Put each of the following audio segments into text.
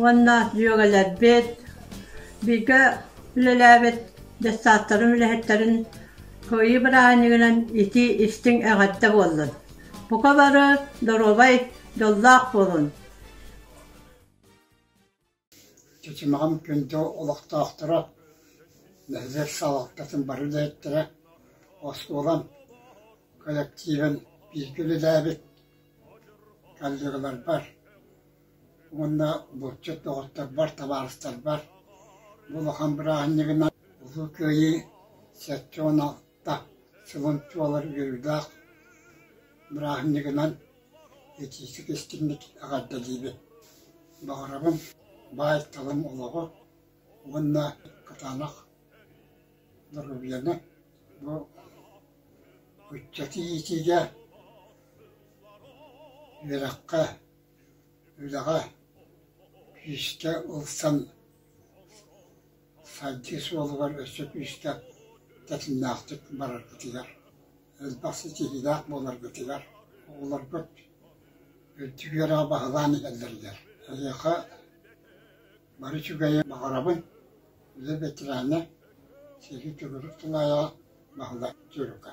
уонна дьүөгэлэрбит, бииргэ үлэлээбит дьассааттарын үлэһиттэрин кыайыы бырааһынньыгынан итии-истиҥ эҕэрдэ буоллун! Бука бары доруобай, дьоллоох буолун! Чычымаҕым күндү олохтоохторо, нэһилиэк салалтатын бары үлэһиттэрэ, оскуолам коллективын бииргэ үлэлээбит коллегаларбар, уонна булчут доҕотторбор, табаарыстарбар бу улахан бырааһынньыгынан Улуу Кыайыы сэттэ уон алта сылын туолар үөрүүлээх бырааһынньыгынан итиитик истиҥник эҕэрдэлиибин. Баҕарабын баай-талым олоҕу уонна кытаанах доруобуйаны бу ыччаты иитиигэ, үөрэххэ, Үлэҕэ күүскэ ылсан сайдыы суолугар өссө күүскэ тэтимнээхтик бараргытыгар, элбэх ситиһиилээх буоларгытыгар, оҕолоргут үрдүк үөрэҕи баһылаан иһэллэригэр эһиэхэ бары үчүгэйи баҕарабын. Үлэ бэтэрээнэ, сэрии төгүрүк тулаайаҕа Баһылай Дьөрүкэ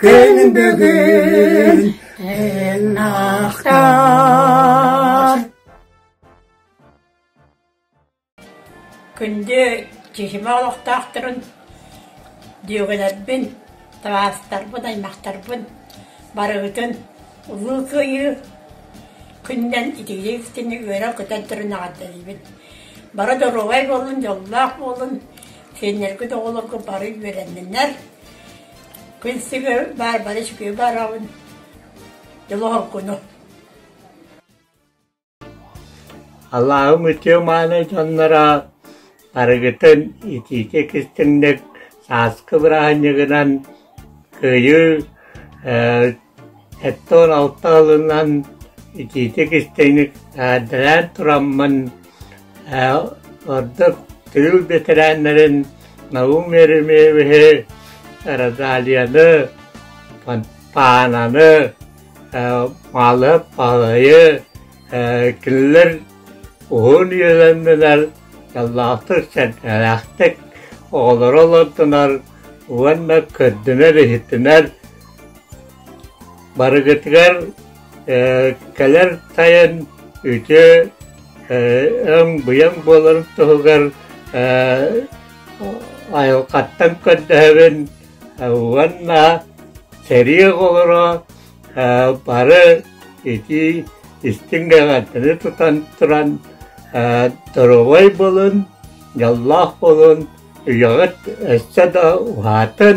Күн бүгүн эн ахтар Күндү киһимэ олохтоохторун, дьүөгэлэрбин, табаастарбын, аймахтарбын барыгытын улуу кыайыы күнүнэн итиилиэхтини үөрэ-көтөн турун эҕэрдэлиибин. Бары доруобай буолун, дьоллоох буолун, сиэннэргит оҕолоргут бары үөрэнниннэр, Билсибэбин баар бары үчүгэй бараҕын Дьолоһоккуну Аллаһым үтүө мааны дьонноро арыгытын итиитэ кистиҥник сааскы бырааһынньыгынан кыайыы Оттон алта алынан итиитик-истиҥник эҕэрдэлээн тураммын ордук тыыл бэтэрээннэрин Наум Еремеевиһи, Родалияны, Паананы, Маалыап Баһылайы кинилэр уһун үөлэннилэр, дьоллоохтук, сэргэлээхтик оҕолоро олордунар уонна көрдүнэр-иһитинэр Барыгытыгар кэлэр тайын үтүө өҥ-быйаҥ буолар туһугар айылҕаттан көрдөһөбүн уонна сэрии оҕолоро бары итии истиҥ эҕэрдэни тутан туран доруобай буолун, дьоллоох буолун, үйэҕит өссө да уһаатын,